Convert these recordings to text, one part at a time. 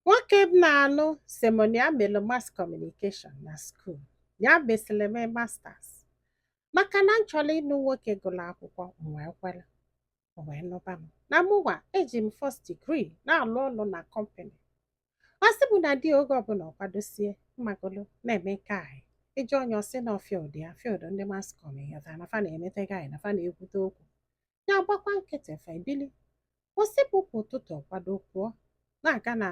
Nwoke m na-anụ sị m na ya melu mass communication na skuul ya mesịrị mee masters maka na m chọlụ ịnụ nwoke gụlụ akwụkwọ m wee kwere o wee nụba m na mụnwa eji m first degree na-alụ ọlụ na kọmpani ọ sị m na di oge ọbụla ọ kwadosie ịmagolu na-eme nke anyị ị jụọ nya ọ sị na field ya field ndị mass com ya na fa na-emete gị anyị na fa na-ekwute okwu nya agbakwa nkịtị fa ebili ọ sị bụ kwa ụtụtụ ọ kwado pụọ na-aga na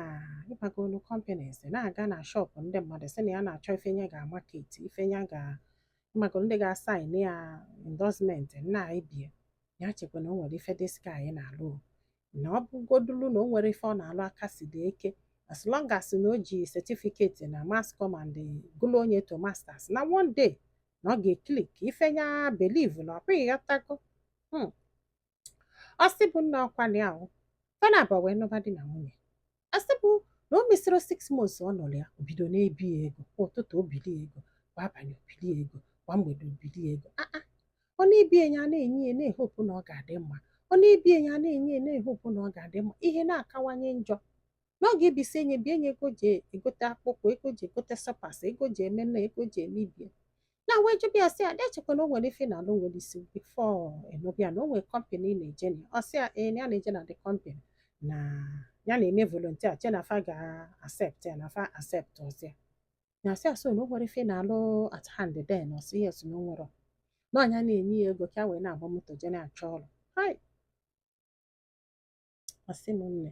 ịmagolu companies na-aga na shọpụ ndị mmadụ sị na ya na-achọ ife nya ga-amaket ife nya ga ịmagolu ndị ga-asain ya endorsement na ibie nya echekwa na o nwere ife this guy na-alụ na ọ bụgodulu na o nwerọ ife ọ na-alụ ọ ka si dị okay as long as na o ji setifiketi na mass com and gụluo nya to masters na one day na ọ ga-eklik ife nya believe na ọ bụ ị ghọtago Hmm. ọ sị bụ nna ọkwali ahụ fa naabọ wee nụba di na nwunye ọ sị bụ na o mesịrọ six months ọ nụlụ ya o bido na-ebi ya ego kwa ụtụtụ o bili ya ego kwa abanị o bili ya ego kwa mgbede o bili ya ego aa ọ na-ebi nya ana-enye ya na-ehopu na ọ ga-adị mma ọ na-ebi nya ana-enye ya na-ehopu na ọ ga-adị mma ihe na-akawanye njọ na ọ ga-ebisi nya bie nya ego ji egote akpụkpọ ego ji egote slippers ego ji eme nna ego ji eme ibie nya wee jụba ya sị ya na-echekwa na o nwere ife ọ na-alụ nwere isi bifo ọ nụba ya na o nwere kọmpani ọ na-eje na ya. ọ sị ya ee na ya na-eje na the company na ya na-eme volontia che na fa ga-asept ya na fa asept ọ sị ya na asị asị na o nwere ife ọ na-alụ at hand then ọ sị yes na o nwere na ọ nya na-enye ya ego ka ya wee na-agba moto je na-achọ ọrụ hai ọ sị m na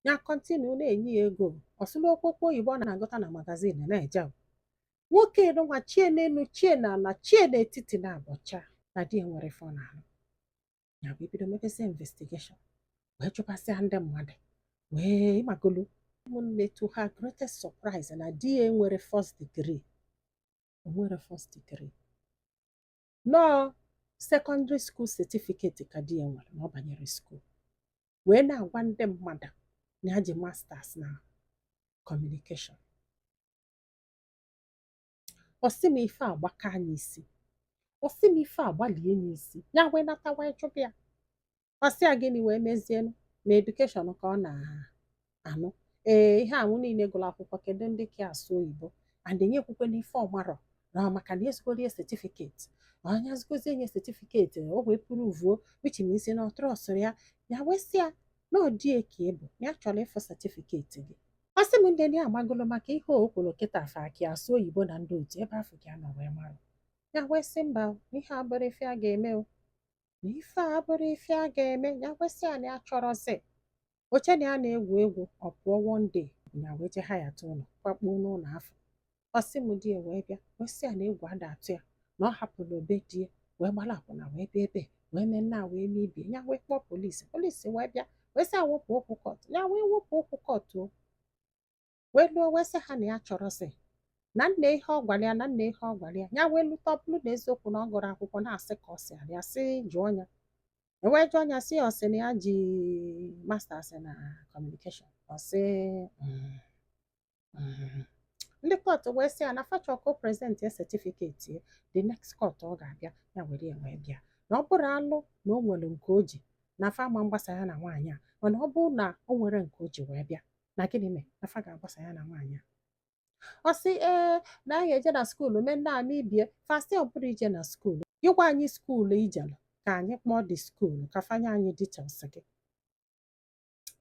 nya kọntinu na-enye ya ego ọ sị na okpokpo oyibo ọ na-agụta na magazin na-eje nwoke nụnwa chie n'enu chie n'ana chie n'etiti na abọcha na di nwere ife ọ na-alụ ya bụ ibido mebezie investigeshọn wee jụbasịa ndị mmadụ wee ịmagolu ụmụnne to her greatest surprise na di ya enwerọ first degree o nwerọ first degree na ọọ sekọndịrị skuul setifiketi ka di ya nwere na ọ banyerọ skuul wee na-agwa ndị mmadụ na ya ji masters na kọmunikeshọn ọ sị m ife agbaka nya isi ọ sị m ife agbalie nya isi ya wee nata wee jụba ya ọ sị ya gịnị wee mezienụ na edukeshọn ka ọ na-anụ ee ihe anwụ niile gụrụ akwụkwọ kedu ndị ka asụ oyibo and nya ekwukwana ife ọ marọ na maka na ezigoro ya setifiketi na onye azụgozi enye setifiketi o wee pruvuo which means na ọ trọstụrụ ya ya wee sị ya na ọ dị okay but na ya chọrọ ịfụ setifiketi gị ọ sị m ndị ndị agbagolo maka ihe o kwuru kịta afọ akị asụ oyibo na ndị otu ebe afọ ka a nọ wee mara ya wee sị mba ihe abụrọ ife a ga-eme o na ife a abụrọ ife a ga-eme ya wee sị ya na ya achọrọzi o chee na ya na-egwu egwu ọ pụọ one day ya wee je hayata ụlọ kwakpuo n'ụlọ afụ ọ sị m di ya wee bịa wee sị ya na egwu ada atụ ya na ọ hapụrụ obe di ya wee gbara akwụna wee bịa ebe wee mee nnaa wee mee ibie ya wee kpọọ polisi polisi wee bịa wee sị ya wepụ okwu kọtụ ya wee wepụ okwu kọtụ o wee luo wee sị ha na ya achọrọzi na nne ihe ọ gwara ya na nne ihe ọ gwara ya ya wee lụta ọ bụrọ na eziokwu na ọ gụrọ akwụkwọ na asị ka ọ sịrị ya sị jụọ ya e wee jụọ ya sị ya ọ sị na ya ji masters na communication ọ sị "Mm, mm." ndị kọtụ wee sị ya na fa chọ ka ọ present ya certificate ya the next court ọ ga-abịa ya were ya wee bịa na ọ bụrụ alụ na o nwere nke o ji na fa ama agbasa ya na nwaanyị a mana ọ bụrụ na o nwerọ nke o ji wee bịa na gịnị mee na fa ga-agbasa ya na nwaanyị a ọ sị ee na anyị eje na skuulu mee nnaa mee ibie fa sị ọ bụrụ i je na skuulu ị gwa anyị skuulu i jelụ ka anyị kpọọ ndị skuulu ka fa nye anyị details gị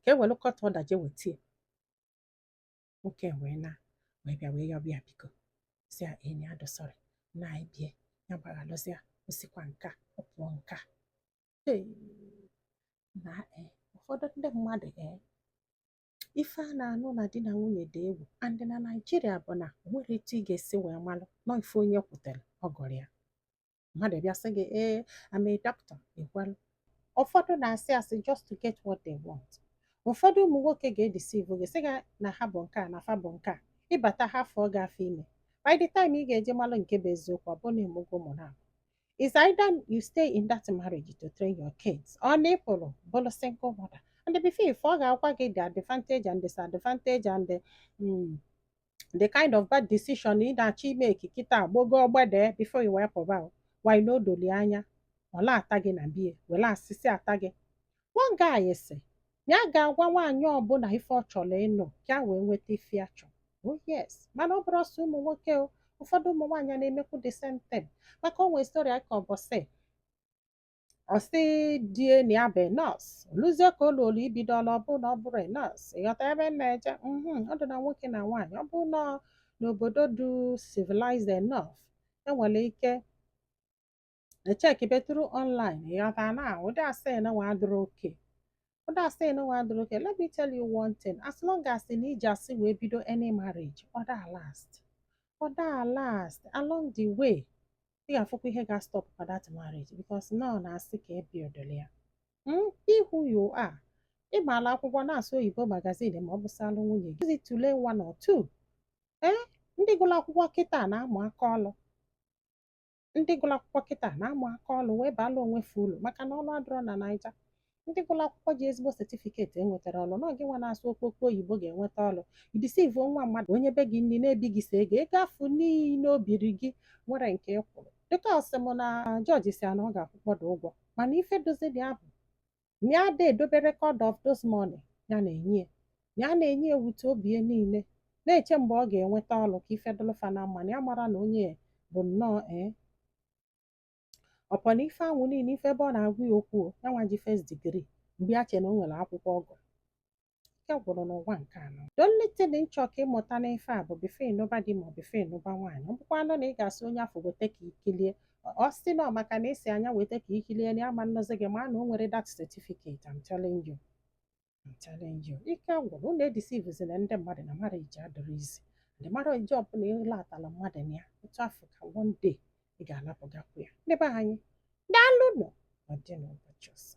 ka e were court order je wetie nwoke wee na wee bịa wee yọbịa biko sị ya na ya dị sorry na anyị bie ya gbaghalụzịa o sikwa nka ọ pụọ nka Hey, na e, ụfọdụ ndị mmadụ e, ife a na-anụ na di na nwunye dị egwu and na Naịjirịa bụ na o nwerọ etu ị ga-esi wee malụ nọ ife onye kwutere ọ gụrụ ya mmadụ bịa sị gị ee I'm a doctor ị kwelụ ụfọdụ na-asị asị just to get what they want ụfọdụ ụmụ nwoke ga-edeceive gị sị gị na ha bụ nke a na fa bụ nke a ị bata ha afọ ọ gaa afọ ime by the time ị ga-eje malụ nke bụ eziokwu ọ bụ na ị mụgo ụmụ na It's either you stay in that marriage to train your kids or na ị pụrụ bụrụ single mother and before ife ọ ga-agwa gị the advantage and disadvantage and the, mm, the kind of bad decision ị na-achọ ime ekikita agbọgọ ọgbede before ị wee pụba why not doli anya ọ na-ata gị na bie were asịsị ata gị One guy sị na ya ga-agwa nwaanyị ọbụla ife ọ chọrọ ịnụ ka ya wee nweta ife ya chọrọ. Oh yes, mana ọ bụrọ sọ ụmụ nwoke o, ụfọdụ ụmụ nwaanyị na-emekwu the same thing. Maka o nwee story a kọ ụbọsị, ọ sị di ya na ya bụ nọọsụ, o luzie ka o luolu ibido ọlụ ọ bụrụ na ọ bụrọ nọọsụ, ị ghọta ebe m na-eje? Mhm, ọ dị na nwoke na nwaanyị, ọ bụrụ na ọ n'obodo dị civilized enough, enwere ike echeckibe through online ị ghọta na ụdị asị nụnwa adịrọ okay ụdị asị nụnwa adịrọ okay let me tell you one thing as long as na i ji asị wee bido any marriage ọ daa last ọ daa last along the way ị ga-afụkwa ihe ga-astop for that marriage because na ọ n'asị ka e buildịrị ya Mm, be who you are ị maala akwụkwọ na-asụ oyibo magazine ma ọ bụsalụ nwunye gị ezi tụlee one or two ee ndị gụrụ akwụkwọ kịta na-amụ aka ọlụ ndị gụrụ akwụkwọ kịta na-amụ aka ọlụ wee baala onwe fa ulu maka na ọrụ adịrọ na naija ndị gụrụ akwụkwọ ji ezigbo setifiketi enwetarọ ọrụ na ọ gị nwa na-asụ okpokpo oyibo ga-enweta ọlụ i disivuo nwa mmadụ o nyebe gị nri na-ebi gị sọ ego ego afụ niine o biri gị nwere nke ị kwụrụ dịka ọ sị m na jọji sị ya na ọ ga-akwụkpọdo ụgwọ mana ife dozi dị abụ na ya ada edobe record of those money ya na-enye ya na ya na-enye ya with obi ya niile na-eche mgbe ọ ga-enweta ọlụ ka ife dụlụ fa na mma na ya amarọ na onye bụ nnọọ ee upon ife anwa niile ife ebe ọ na-agwa ya okwu ya nwa ji first degree mgbe ya che na o nwere akwụkwọ ọ gụ ike gwụrụ n'ụwa nke a nọ the only thing m chọ ka ị mụta n'ife a bụ before ị nụba di ma ọ before ị nụba nwaanyị ọ bụkwanụ na ị ga-asị onye afụ weta ka i kilie ọ sị na ọ maka na ị sị ya nya weta ka i kilie na ya ama nụzi gị ma na o nwerọ that certificate I'm telling you I'm telling you ike gwụrụ unu edisivuzina ndị mmadụ na marriage adịrọ easy ụdị marriage ọbụla ị latala mmadụ na ya otu afụ ka one day ị ga-alapụgakwu ya ndị be anyị daalụ nụ ọ dị n'ụbọchị ọzọ